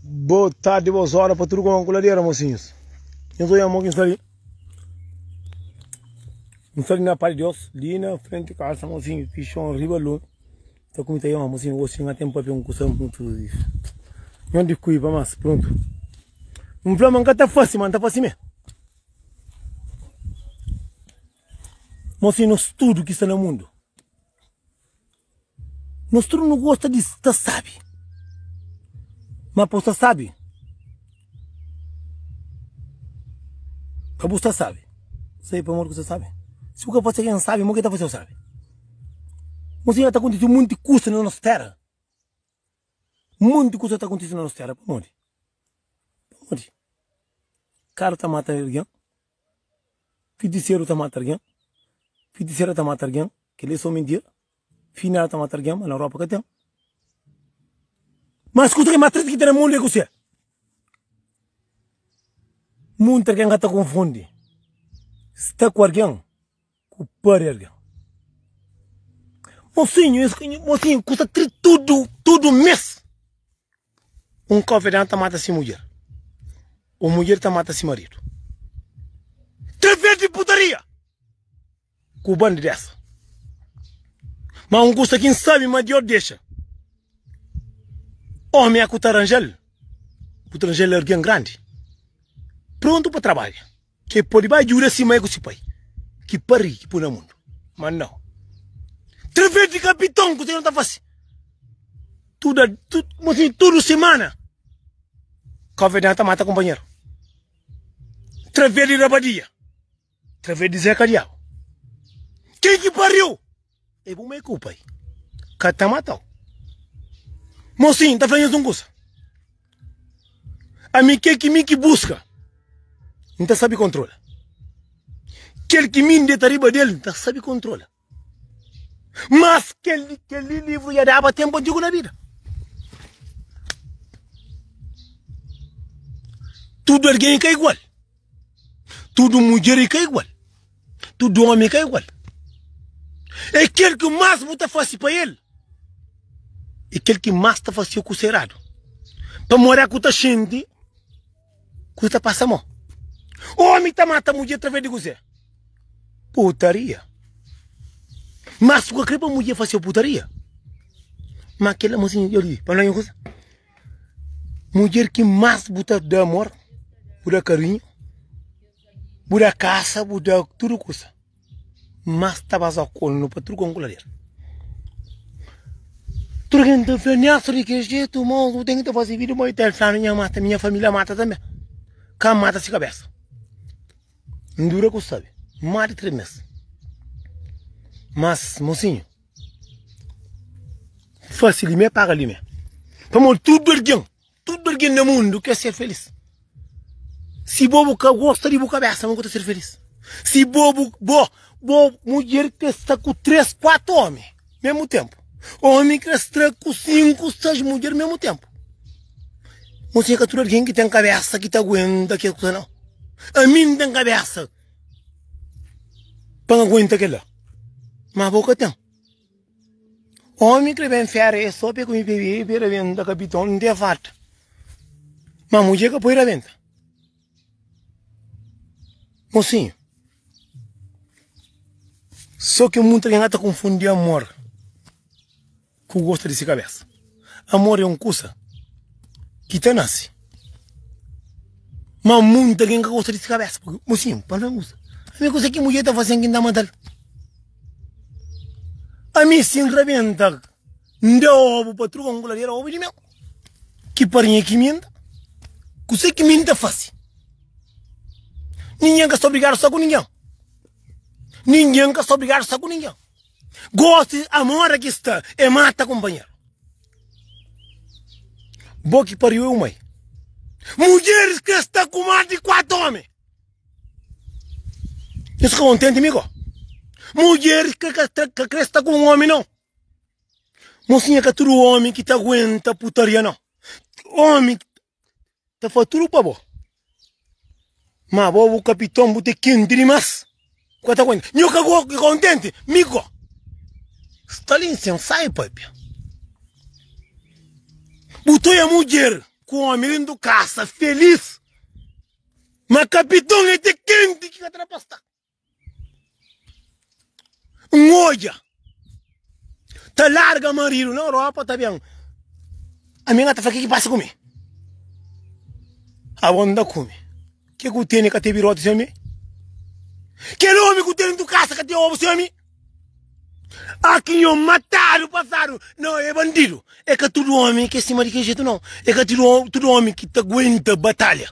Boa tarde, boas horas para tudo com a coladeira, mocinhos. Eu sou Yamon Kinsari. Kinsari na Pai de Deus, ali na frente de casa, mocinho, que chão riba lun. Tá com Yamon, mocinho, hoje tinha tempo para um coção muito isso. Não de cuiba, mas pronto. Um flama nunca tá fácil, mano, tá fácil mesmo. Mocinho, nós tudo que está no mundo. Nos tudu nu gosta di sta sábi. Má pa bu sta sábi, pa bu sta sábi, sai pa modi ki bu sta sábi. Si bu ka fase algen sábi, mô ki el ta fase-u sábi? Mon sinhora, ta kontise monti kusa na nos téra. Monti kusa ta kontise na nos téra. Pamodi? Pamodi? Karu ta mata algen. Fitiseru ta mata argen Fitisera ta mata argen Kel-li é sô mintia Finela ta mata argen Má na Rópa ka ten Má skuta kel más tristi ki ten na mundu é kusé? Munta argen ka ta konfundi Sta ku argen. Ku pá di algen. Mosinhu, es mosinhu ku sta tri tudu, tudu mês. Un konfidenti ta mata si mudjer. Un mudjer ta mata si maridu. Três vez di putaria. Ku bandi dessa. Ma un kusa ki N sabe ma Deus dexa. Omi é ku ta ranja-l. Bu ta ranja-l algen grandi. Prontu pa trabadja. Ke pode bai djuda si mai ku si pai ki pari ki pui na mundu? Ma nau. Trvés di kapiton kuzê ki nu ta fase? Tuda tu kuma si tudu simana kovedan ta mata kunpanheru. Trvés di rabadia, trvés di zeka diabu. Ken ki pariu? E bu mai ku pai ka ta matau. Mosin, ta flanhas un kusa. Ami kel ki mi ki buska, mi ta sabi kontrola. Kel ki mi ndeta riba del, mi ta sabi kontrola. Mas kel, kel li livru ya daba tempu antigu na bida. Tudu algen ka igual. Tudo mulher e ka igual. Tudo homem e ka igual. É quel que mais bu ta fase pa el. É quel que mais ta fase ku serado. Pamodi é ku ta xinti ku ta pasa mo. Homem ta mata mulher traves di kuzé? Putaria. Mas bu ka kre pa mulher fase putaria? Ma kela mozinha, yo di, pa no inkusa. Mudjer ki más bu ta da amor, bu da karinhu, bu da kasa, bu da tudu kusa, más ta baza konu pa tudu kon ku lader. Tudu ken ta fla, Nélson di kel jetu mô, bu ten ki ta faze vida mô. I ta el fla-nu, nha mata, nha família mata tanbe. Ka N mata si kabésa. N dura ku sabe, más di três mês. Mas, mosinhu, Fásil limé paga limé. Pamodi tudo algen, tudo algen na mundo quer ser feliz. Si bo bu ka gosta di bu cabeça, como que ta ser feliz? Si bo bu bo bo mulher quer estar com três, quatro homens mesmo tempo. Homem quer estar com cinco, seis mulher mesmo tempo. Você que tudo alguém que tem cabeça que te aguenta que não. A mim tem cabeça. pa aguenta kel la ma bo ka ten omi kre ben fera e so pe ku mi bebe be rebenta kapiton mi te farta ma muje ka poi rabenta mosinho so ke mutu algen ata konfundi amor ku gosta di si kabésa Amor é un kusa ki ta nase Má munta algen ka gosta di si kabésa Purkê bo sinta pa algen kusa Ami kusa ki mudjer ta fase-m ki N ta mata-l Ami si N rabenta N da obu pa truka un kuladera obu di mel Ki parinha ki mi N ta Kusa ki mi N ta fase Ningén ka sta obrigadu sta ku ningén Ningén ka sta obrigadu sta ku ningén. Gosi amor aki sta e mata companheiro Bo ki pariu eu mai Mulheres que sta ku mas di 4 homem Nhos fika contente mi ko Mulheres que ka kre sta ku um homem não Mocinha ka tudo homem ki ta aguenta putaria não Homem ta fá tudu pa bo. Má bo, bu kapiton, bu ta kenti dimás. Bu ka ta aguenta. Nho ka go, ka kontenti, mi go. Stalin sen sai, pâpia. Bu ta oia mudjer ku ómi dentu kasa, felís. Má kapiton, el ta kenti ki ka ta da pa stá. N odja, ta larga marido na Europa ta ben ami nga ta fla kiki passa ku mi? Abo nda ku mi, ke ku tene ka te birote sem mi? Kel omi ku tene tu kasa ka te obo sem mi? A ki nho matadu pasadu no e bandido, e ka tudo omi ke sima di ke jetu no, e ka tudo omi ki ta guenta batalha.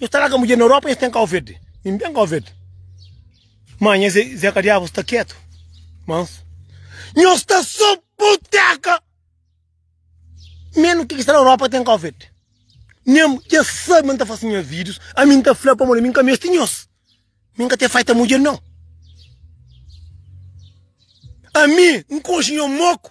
Nhos ta larga mudjer na Europa nhos ten Cabo Verde. Min ben Cabo Verde. Má nha Zé, Zeca Diabo sta ketu, mansu. Nhos sta só buteka. Menu ki ki sta na Europa ten Cabo Verde. Nha dja sabe ma n ta fase nha vídeos, ami n ta fla pamodi ami n ka meste nhos. Mi n ka ta faita mudjer nau. Ami n konxe nha moku.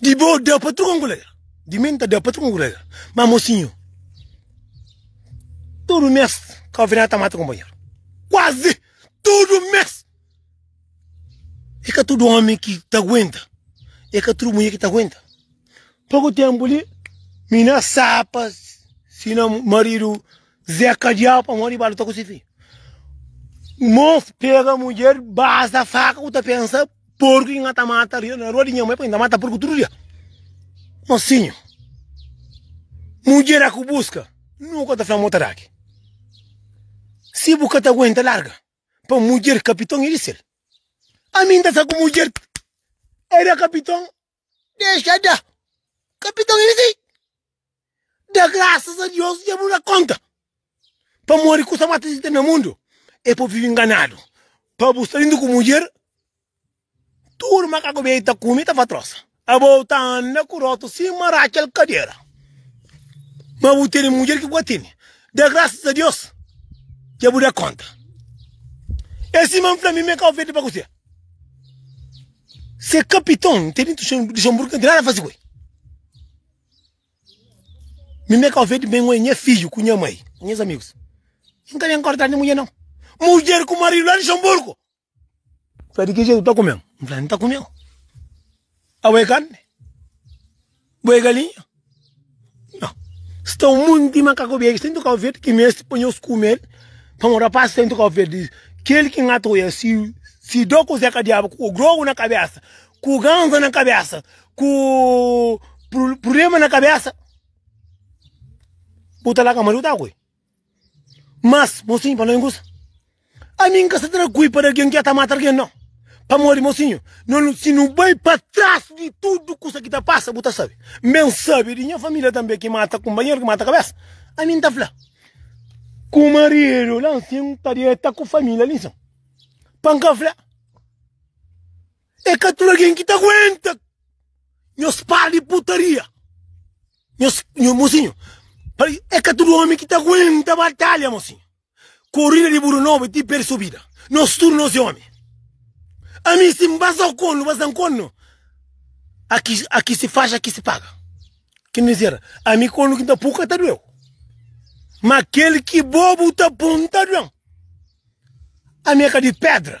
Di bo da pa tudu anguleira di mi nta da pa tudu anguleira ma mosinhu tudu mes kaovinada ta mata konpanheru kuazi tudu mes e ka tudu omi ki ta aguenta e ka tudu mulher ki ta aguenta poku tenpu li mi na sapa si na maridu zé kadiau pamodi i ba luta ku si fidju mos pega mulher basa faka ku ta pensa Porku ki na ta mata ri na rua di nha mãe, pa inda mata porku tudu dia. Mosinhu, mudjer a ku buska nu ka ta fla mo ta da ki. Si bu ka ta aguenta larga, pa mudjer kapiton e di sel. Ami n ta sta ku mudjer, e da kapiton Dexa da. Kapiton i di. Da grasas a Deus dja bu da konta. Pamodi ku sa mata di ten na mundu e pa vivi nganadu. Pa bu sta lindu ku mudjer, tudu makaku bia i ta kume i ta fatrosa. Abo ta anda ku rotu sima Rakel kadera. Ma bu tene mudjer ki bu ka tene. Da grasas a Deus dja bu da konta. E sima N fla mi, mi ka ofende pa kuse. Se kapiton nte di intuxon di xonburgu nte nada fasi ku el. Mi me ka ofendi ben wen nha fiju ku nha mai, nhas amigus. Nka ben kortadu di mudjer nau. Mudjer ku maridu la di xonburgu. Fla di ki jetu ta kumeu? Nfla nta kumeu. Abo é karni? Bo é galinha? Não. Sta um monte de macaco biéki sta em Cabo Verde que meste pa nhos kumel pa um rapaz sta em Cabo Verde kel ki ngata oia si si do ku zeka diabu ku grogu na kabesa ku ganza na kabesa ku problema na kabesa bu ta la ka mariu ta kui Mas, mosinhu, pa no é un kusa. Ami N ka sta tra kui pa da algen ki dja ta mata algen, nau. Pamodi, mosinhu, no nu, si nu bai pa tras di tudu kusa ki ta pasa, bu ta sabe. N ben sabe di nha familia tanbe ki mata kunpanheru, ki mata kabesa. Ami N ta fla ku maridu la nsin, N ta dieta ku familia li nsin pa N ka fla. É ka tudu algen ki ta aguenta nhos par di putaria. Nhos, nho, mocinho, pare- é ka tudu omi ki ta aguenta batalha, mocinho. Korida di buru nobu é ti perde subida. Nos tudu nos é omi. Ami si N ba sa kondu, ba sa nkondu, aki, aki si faxi, aki si paga. Ki N dizera, ami kondu ki N ta pu ka ta dueu. Ma kel ki bo bu ta pun ta duem. Ami é ka di pedra.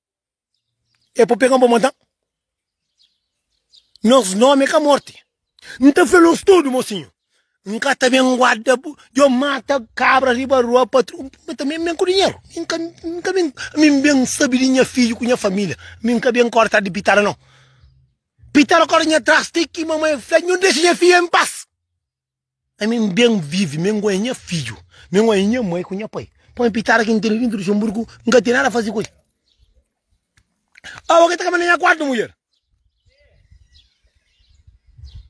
É pa pega-m pa matan. Nos nomi é ka morti. N ta fla-nos tudu, mosinhu, N ka ta ben guarda bu, djo mata kabra riba rua pa tru. Mi tanbe N ben ku dinheru. Mi ka, mi ka ben, ami N ben sabe di nha fidju ku nha familia. Mi N ka ben kore tras di pitada, nau. Pitada kore nha tras ti ki mamai fla, Nhu dexa nha fidju en pas! Ami N ben vive, mi N konhece nha fidju, mi N konhece nha mãe ku nha pai. Pa mi pitada ki N tene dintu di Luxemburgo, N ka ten nada faze ku el. Awa ke ta kaba na nha kuartu, mudjer?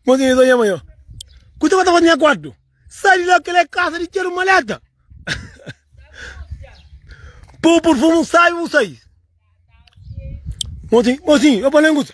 Mon sinhor, ta txoma yo. Ku ta ba ta faze na nha kuartu? Sai di la, kel é kasa di txeru maleta. Pau purfumu, sai bu sai. Mon sinhor, mon sinhor, yo pa la en kusa.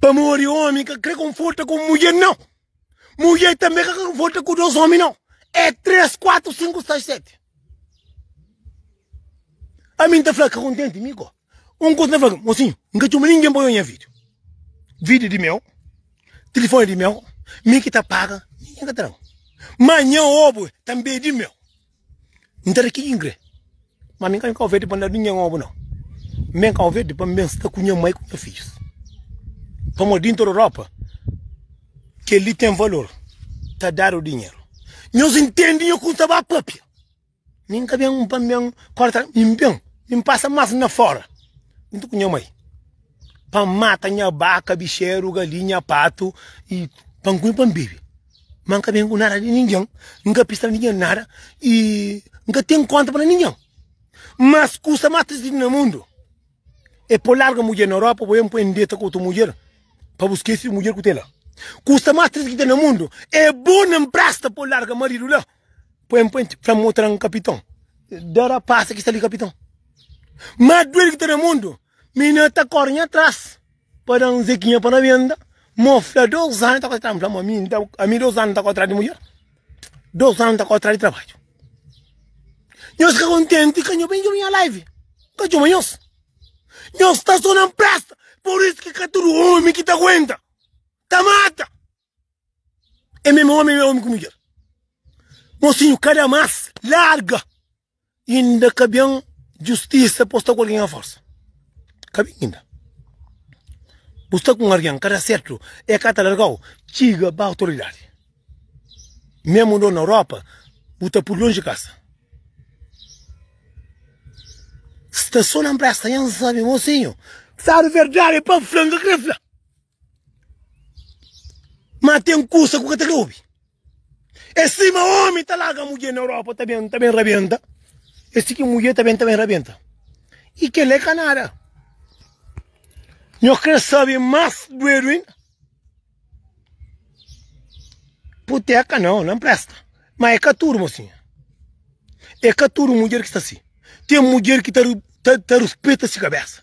Pamodi omi ka kre konforta ku un mudjer nau. Mudjer tanbe ka kre konforta ku dos omi nau. E tres, kuatru, sinku, sais, seti. Ami nta fla ka kontenti mi ko un kusa nta fla ki mosinhu nka txoma ningen pa oja nha video. Video di meu, tilifoni di meu, mi ki ta paga, ningen ka tran. Ma nha obu tanbe di meu. N ta da ki ki N kre, má mi N ka ben Kau-Verdi pa N da-l di nha obi, nau. N ben Kau-Verdi pa N ben sta ku nha mai ku nha fidjus. Pamodi di interior Europa, kel-li ten valor, ta dadu dinheru. Nhos ntende nha kuza ta ba pâpia? Mi N ka ben pa N ben korta, mi N ben, mi N pasa más na fóra, djuntu ku nha mai. pa N mata nha baka, bixeru, galinha, patu i pa N kume pa N bebe. Ma N ka ben ku nada di ningen, N ka pista ningen nada i N ka ten konta pa ningen. Mas kusa mas tristi na mundu e pa bu larga mudjer na Europa bo ben poi N deta ku otu mudjer pa bu skese di mudjer ku ten la. Kusa mas tristi ki ten na mundu e bo na mpresta pa bu larga maridu la poi N poi fla mo tran kapiton. Dera pasa kista li kapiton. Mas duel ki ten na mundu Mi na ta kore nha tras pa da un zekinha pa na benda mo fla dos anu ta kore tras fla mo ami nta ami dos anu nta kore tras di mulher dos anu nta kore tras di trabadju nhos ka kontenti ka nho ben djobe nha live ka djobe nhos nhos sta so na npresta por isu ki ka tudu omi ki ta guenta ta mata é meme omi é omi ku mudjer mosinhu ka da mas larga inda ka ben justisa pa bu sta ku algen a forsa ka ben inda bu sta ku un algen ka da sertu e ka ta largau txiga ba otoridadi meme un dor na europa bu ta pudi lonji di kasa sta so na npresa nha n sabe mosinhu sabe verdadi pa fla n ka kre fla. Ma tem kusa ku ka ta obi e sima omi ta laga mudjer na europa ta bem ta bem rabenta e si ki mudjer ta bem ta bem rabenta e kela e ka nada nho kre sabi mas duedu inda puteka nao na presta ma e ka tudu mosinha e ka tudu mudjer ki sta si tem mudjer ki ta ta ta ruspeta si kabesa.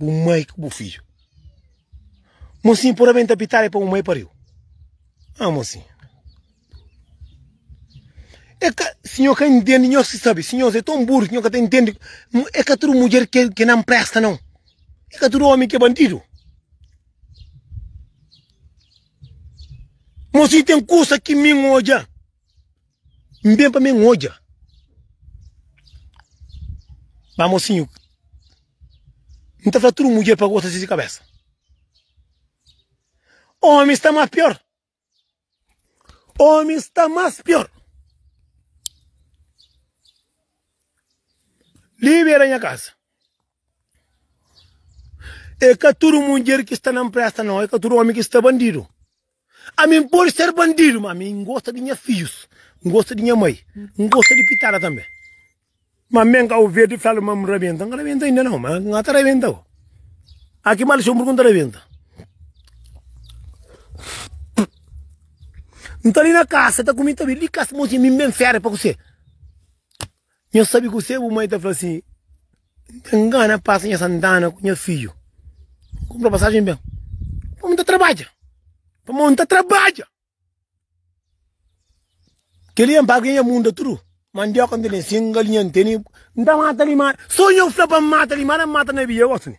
Bu mai ku bu fidju. Mosin pura ben ta pitala e pa bu mai pariu. Ah, mosin. É que o senhor que entende, nós que sabe, senhor é tão burro, senhor que entende. É que tudo mulher que, que não presta, não. É que tudo homem que é bandido. Moço, tem curso aqui, mim, hoje. N ben pa mi N odja Má mosinhu N ta fla tudu mudjer pa gosta di kabésa Ómi sta más piór Ómi sta más piór Li bera nha kaza É ka tudu mudjer ki sta na npresta nau É ka tudu ómi ki sta bandidu Ami N pode ser bandidu, ma ami N gosta di nha fidjus, N gosta di nha mai, N gosta di pitada tanbe. Ma ami N ka ouvir di fla ma N rabenta, N ka rabenta ainda nau, ma N ata rabenta bo. A ki mal txon purki N ta rabenta. N ta li na kasa ta kumi ta bebe, li kasa mocinha mi ben fera pa kuse. Nha sabi kuse bu mai ta fla si N ta ngana pasa nha santana ku nha fidju N kunpra pasajen ben pamô N ta trabadja pamô N ta trabadja Keli é N paga nha munda tudu mandioka N ta ben singa li nha nteni N ta mata limada so nha fla pa N mata limada N mata na bia gosi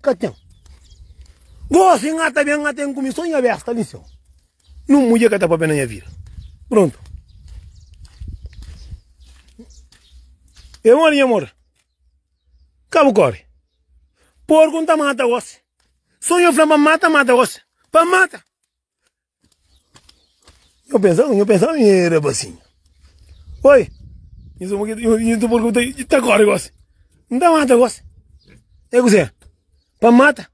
Ka ten. Gosi nha ta ben, nha ten ku mi so nha bes, ta bin seu. Nun mudjer ka ta papia na nha vida. Prontu. E modi nha mor? Ka bu kori. Porku n ta mata gosi. So nha fla pa mata, mata gosi. Pa mata. Nho pensaba, nho pensaba nho era basin. Oi! Nho suma ki, nho, nho ta pergunta, e ta kore gosi? N ta mata gosi? E kuzê? Pa mata?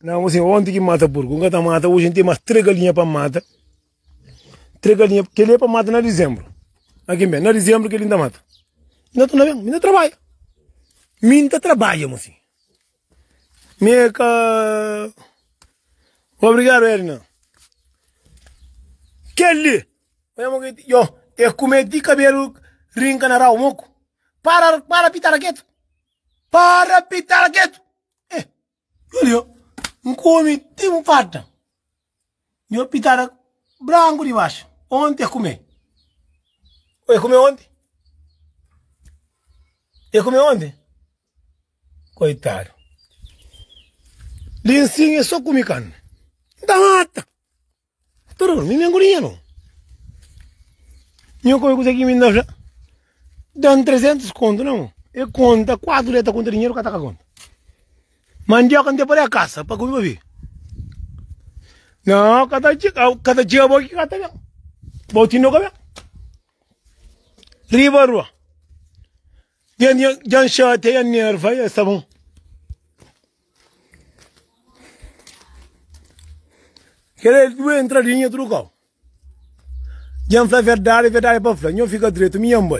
Na fala assim, onde ki mata porku? N ka ta mata, oji N ten mas trê galinha pa mata. Trê galinha, keli é pa mata na dizembru. Na ki N ben, na dizembru keli N ta mata. Nho ta na ben, mi na trabadja. Mi N ta trabadja, fala assim. Mie ka Obrigado Edna Kel li Yo E kume ti kabelu rinka na rau moku Para para pitara ketu Para pitara ketu Eh Yo li yo N kume ti N farta Nho pitada branku di baxu onti e kume o e kume onti e kume onti koitadu linsin e so kumi kanu N ta mata tudu kunu mi mi ngudi nha nome nho kome kusa ki mi na fla dan 300 kontu na mo e konta kuatu dia ta konta dinheru ka ta ka konta Mandioka nte pode kasa pa kume pa vi. Não, cada dia, cada dia vou aqui cata bem. Vou te no cabelo. Riba rua. Jan jan chate jan nerva ya está bom. Querer duas entradinhas trucou. Jan fala verdade, verdade para falar. Não fica direito, minha mãe.